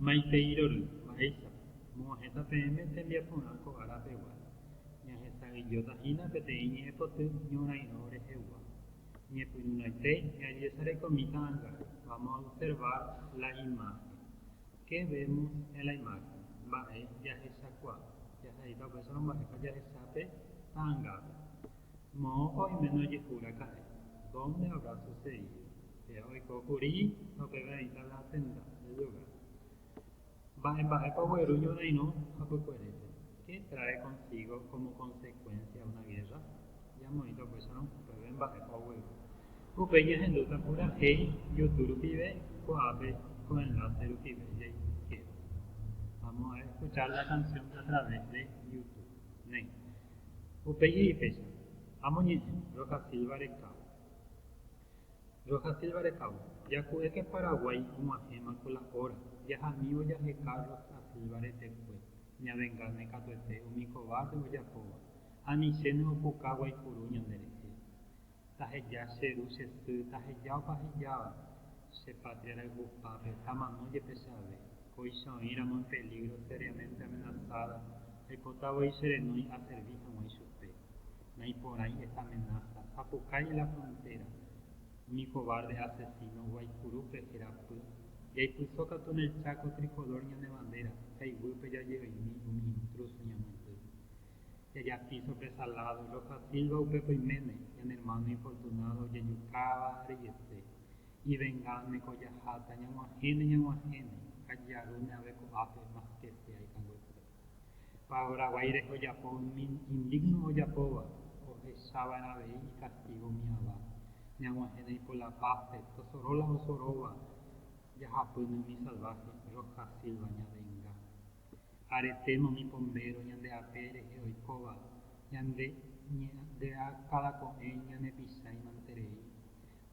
Maitei rory, mba'éichapa? Mo'ãhẽta peẽme tembiaporã ko ára pegua, ñahesa'ỹijóta hína peteĩ ñe'ẽpoty ñorairõ rehegua. Ñepyrũrãite ñajesarekomíta anga, vamos a observar la imagen. Qué vemos en la imagen? Mba'e jahechakuaa, jahaíta upéicha romba'épa jahecha pe ta'angápe. Moõpa oiméne ojehu raka'e, dónde habrá sucedido? Oiko kuri opeve'aita la tenda de yoga. Mba'e mba'épa ogueru ñorairõ hapykuerépe? Qué trae consigo como consecuencia una guerra? Jamoĩta upéicharõ upéve mba'épa ogueru. Upéi jahendúta purahéi youtube rupive ko'ápe ko enlace rupive jaikéva. Vamos a escuchar la canción a través de youtube. Néi. Upéi he'i péicha, Amoñe'ẽ, Rosa Silva recao. Roja Silva Recabo, Jaku'éke Paraguái og̃uahẽma ko la óra, jaha'mívo jaheka Roja Silva retekue, ñavengáne katuete umi kovápe ojapóva, anichéne opuka guaipuru ñanderehe. Taheja che ru che sy, taheja opa hejáva, che patria rayhupápe, tamano jepe che ave, kóicha oĩramo en peligro seriamente amenazada, aipota voi che renói aservi hag̃ua ichupe. Naiporãi esa amenása. Apukái la frontéra. Umi kovárde asesíno Guaicurúpe herapy. Jaipyso katu en el Cháko trikolór ñane vandéra, ha iguýpe jaje'oimi umi intrúso ñamyendy. Jajapi sorprésa ládo, los da Silva upépe oiméne, ñane ermáno infortunádo ojejukáva rejese. Ivengánne ko jaháta, ñag̃uahẽne, ñag̃uahẽne, ha jearúne avei ko'ápe, más ke sea ikanguépe. Paraguái rehe ojapo umi indigno ojapóva ohechava'erã avei ikastigo umi ava, ñag̃uahẽna ipolapápe, tosoro la osorova jahapýne umi salvaje, Roja Silva ñavenga. Aretéma umi pombéro ñande ape rehe oikóva, ñande ñe'ẽa káda ko'ẽ ñanepichaimanterei,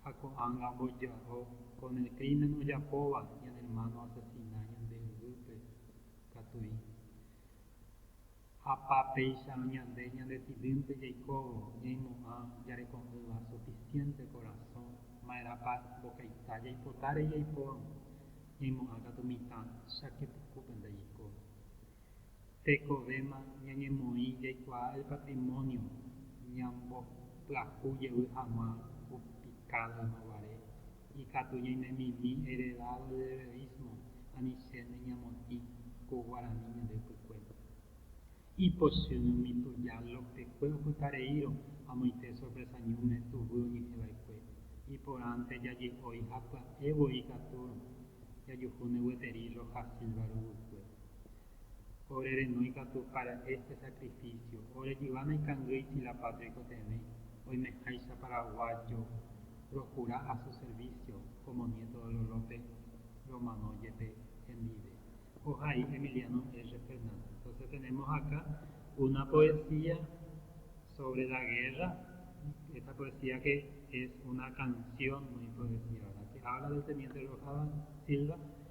ha ko'ág̃a omboja'o con el crimen ojapóva ñane hermano asesina ñande yvýpe. katuí. Hapa péicha ñande ñandesidýnte jaikóvo ñaimo'ã jareko'ỹva suficiente korasõ ma'erãpa mbokaita jaipota rei jaipórõ, ñaimo'ã katu mitã cháke pukúpente jaiko. Tekovéma ñañemoĩ jaikuaa el patrimonio ñambopyahu jevy hag̃ua upicado yma guare Ikatu ñainemimi heredado de heroísmo ani che neñamotĩ ko guarani ñande ypykuéra. Ipochými umi tuja Lópekue opytareírõ amoite sorpresa ñúme tuguy oñehẽva'ekue, iporãnte jaje'ói ha pya'e voi ikatúrõ jajuhúne gueteri Rojas Silva ruguykue. Ore renói katu okara'e che sakrifísio. Ore jyva naikangýi tsilapáta oikotevẽ, oimeháicha paraguájo rohura a su servísio kómo niéto de Lolópe romano jepe hendive. Ohai Emiliano R. Fernández. Entónse tenémos aká una poesía sóvre la gérra, esta poesía ke es una kansión muy poesía, ke hábla del teniente Rojas Silva.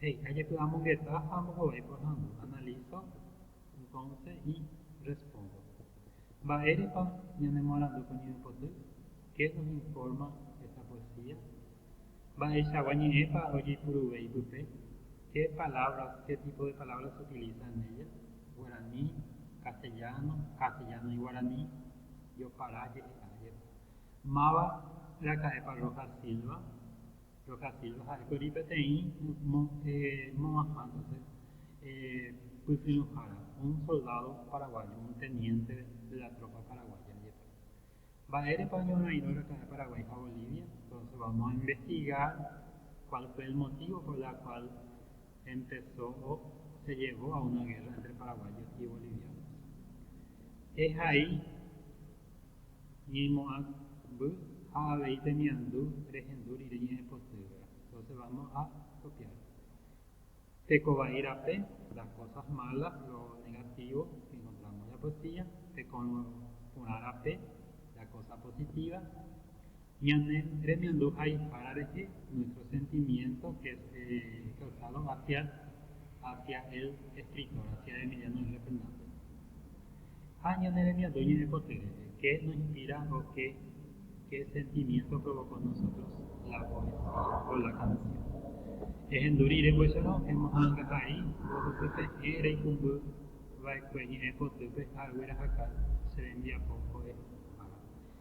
He'i, Ajepe amongeta ha ambohovái porãndu, analizo, entonce, y respondo. Mba'érepa ñanemoarandu ko ñeñemboty? Qué nos informa esta poesía? Mba'eichagua ñe'ẽpa ojeipuruve ipype? Qué palabras, qué tipo de palabras se utiliza en ella? Guarani, castellano, castellano y guarani, yo para je'e'ajepe. Máva raka'épa Rojas Silva? Rojas Silva ha'ékuri peteĩ moõguaha pytyvõhára, un soldádo paraguayo, un teniente de la tropa paraguaya, jepe. Mba'érepa oñorairõ raka'e Paraguái ha Bolivia? Entonce vamos a investigar cuál fue el motivo por la cual empezó o se llevó a una guerra entre paraguayos y bolivianos. Ehai Ñeimo'ãmby ha avei temiandu rehendu rire ñe'ẽpotyva'erã, entonces vamos a copiar. Teko vai rape, las cosas malas, lo negativo que encontramos en la poesía, teko porã rape, la cosa positiva, Ñane remiandu ha'ipára rehe, nuestro sentimiento es causado hacia hacia el escritor, hacia Emiliano L. Fernández. Ha ñane remiandu ñe'ẽpoty rehe, qué nos inspira o qué qué sentimiento provocó en nosotros la poesía o la canción. Ehendu rire mbo'ehára ohemoha'ãngahai mbohapyve hẽ reikũmby va'ekue ñe'ẽpotýpe ha aguerahaka che rembiapo mbo'ehára.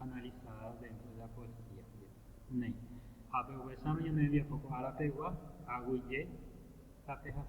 analizadas dentro de la poesía jepe. Néi, ha pe'uvesáma ñane rembiapo ko ára pegua, aguyje ha pehasa.